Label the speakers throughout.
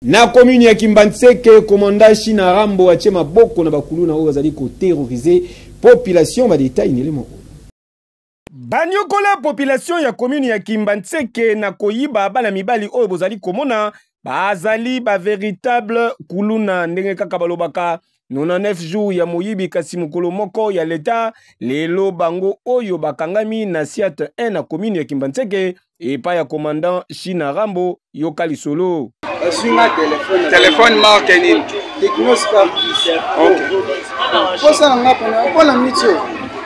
Speaker 1: Na commune ya Kimbanseke, commandant Shina Rambo atie maboko na bakuluna oyo bazali koterroriser population ba detail nele moko. Banyokola population ya commune ya Kimbanseke na koyiba bana mibali oyo bozali komona bazali ba veritable kuluna ndenge kaka balobaka 99 jours ya moyibi kasi mokolo moko ya leta lelo bango oyo bakangami na siat 1 na commune ya kimbanseke epai ya commandant shina rambo yoka lisolo
Speaker 2: telefone marke nini
Speaker 3: mposa na nga mpona mpo na miti oyo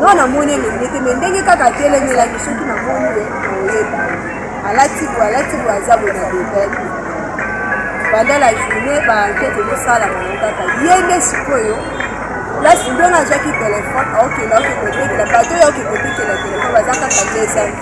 Speaker 4: nga namoni elenge te me ndenge kaka atelemelaki soki namoni ye oyeba alati boye alati boye aza boye na detail banda la journée baankete ezosala bango kaka ye nde sikoyo place ndona azwaki telefone aokenda okende otekela bato oyo okende otekela telefone baza kaka dezaki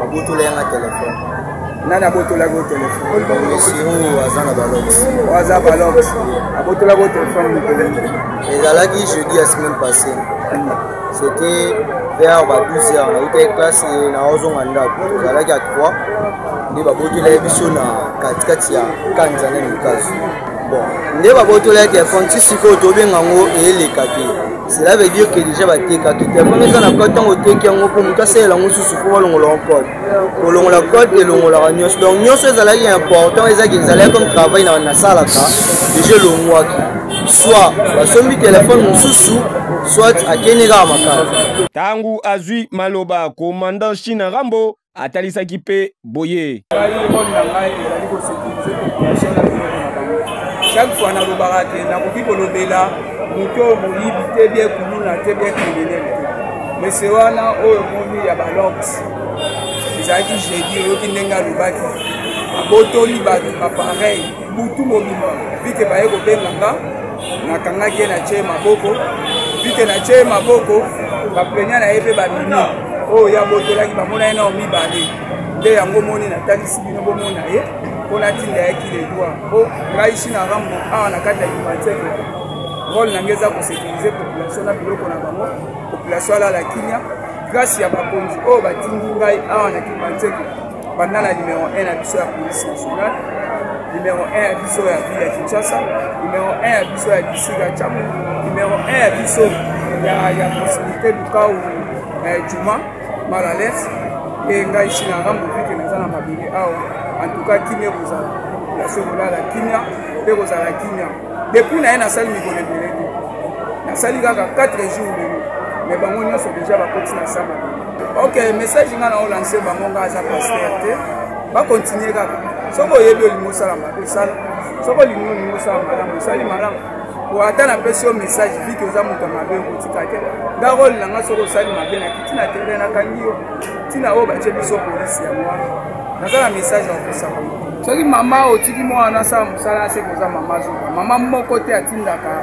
Speaker 3: babotola yanga telefone nani abotolaki
Speaker 2: o telefoneoyo aza
Speaker 3: na balox oyo aza balox
Speaker 2: abotolaki o telefone mikolo ezalaki
Speaker 3: jeudi ya semaine passé c'était vers ba 12 heures nautaki classe naozonga ndako ezalaki ya 3 nde babotolaki biso na katikati ya kanza na mikazo bon nde babotolaki telefone ti sikoyo tobenga yango eyeleka te cela veut dire que déjà batekaki te yango eza na code ntango oteki yango mpo moto asalela yango susu mpo balongola yango code kolongola code elongolaka nyonso donc nyonso ezalaki important ezaki ezalaki comme travail na nasalaka déjà elongwaki soit basombi telefone mosusu soit akende kaka makala ntango azwi
Speaker 1: maloba komandant china rambo atalisaki mpe boye
Speaker 2: chaque fois nalobaka te nakoki kolobela moto oyo moyibi te bie kuluna te bie kriminel te mese wana oyo omoni ya balox ezalaki jeudi oyoki ndenge alobaki abotoli bato bapareil butu mobima vike baye kobenga nga nakangaki ye natye ye maboko vike natye ye maboko baplenia na ye mpe babimi oyo ya botolaki bamona ye nao mibale nde yango moni natalisi bino bomona ye mpo natinda ye kiledwa mpo ngai china rambo awa na kati ya limantiere role na ngai eza kosekirize population na biloko na bango population alala kimia grâce ya bakonzi oyo batindi ngai awa na kimantiere banda na numero 1 na biso ya police nationale numero 1 ya biso ya ville ya kinshasa numero 1 ya biso ya district ya chamu numero 1 ya biso ya proximité lukau eh, juma malales mpe ngai china nga mobike naza na mabele awa antuka kimia ekozala place ekolala kimia mpe kozala kimia depuis na ye nasali mikolo ebele te nasali kaka 4 jours lelo me bango nyonso deja bakoti na saba ok message ngai nao lance bango ngai aza paster te bakontinue kaka soki oyebi olingi osala mabe osala soki olingi olingi osala malamu osali malamu po ata napesi yo message viki oza moto ya mabe okotika te nga role na ngai soki osali mabe na kiti na tere nakangi yo ntina oyo batye biso polisi yango wana naza na message ya kosaka soki mama otiki mwana asala mosala ase koza mama azoka mama moko te atindaka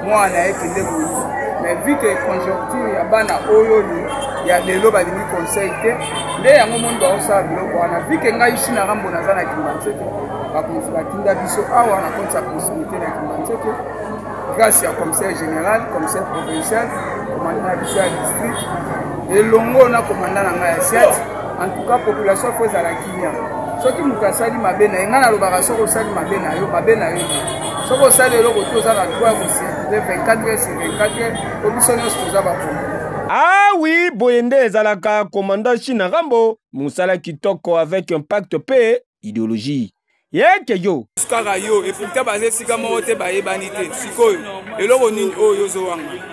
Speaker 2: mwana na ye kende koyisa mais vu que conjoncture ya bana oyo ya lelo balingi conseil te nde yango moni baosala biloko wana vu que ngai china rambo naza na kimbanseke bakonzi batinda biso awa na konti ya proximité na kimbanseke grâce ya commissaire général commissaire provincial commandant na biso ya district elongo na commandant na ngai ya siate en tout cas population fo ezala kimia soki moto asali mabe na ye ngai nalobaka soki osali mabe na yo mabe na yo soki osali eloko te oza na droit ya kosirkule 24 heures sur 24 heures po biso nyonso toza bakongo awi ah
Speaker 1: boye nde ezalaka commandant china rambo mosala kitoko avec impact mpe ideologie yeke yo kaka yo eputa
Speaker 2: baza esika moko te bayebani te sikoyo eloko nini oyo ozowanga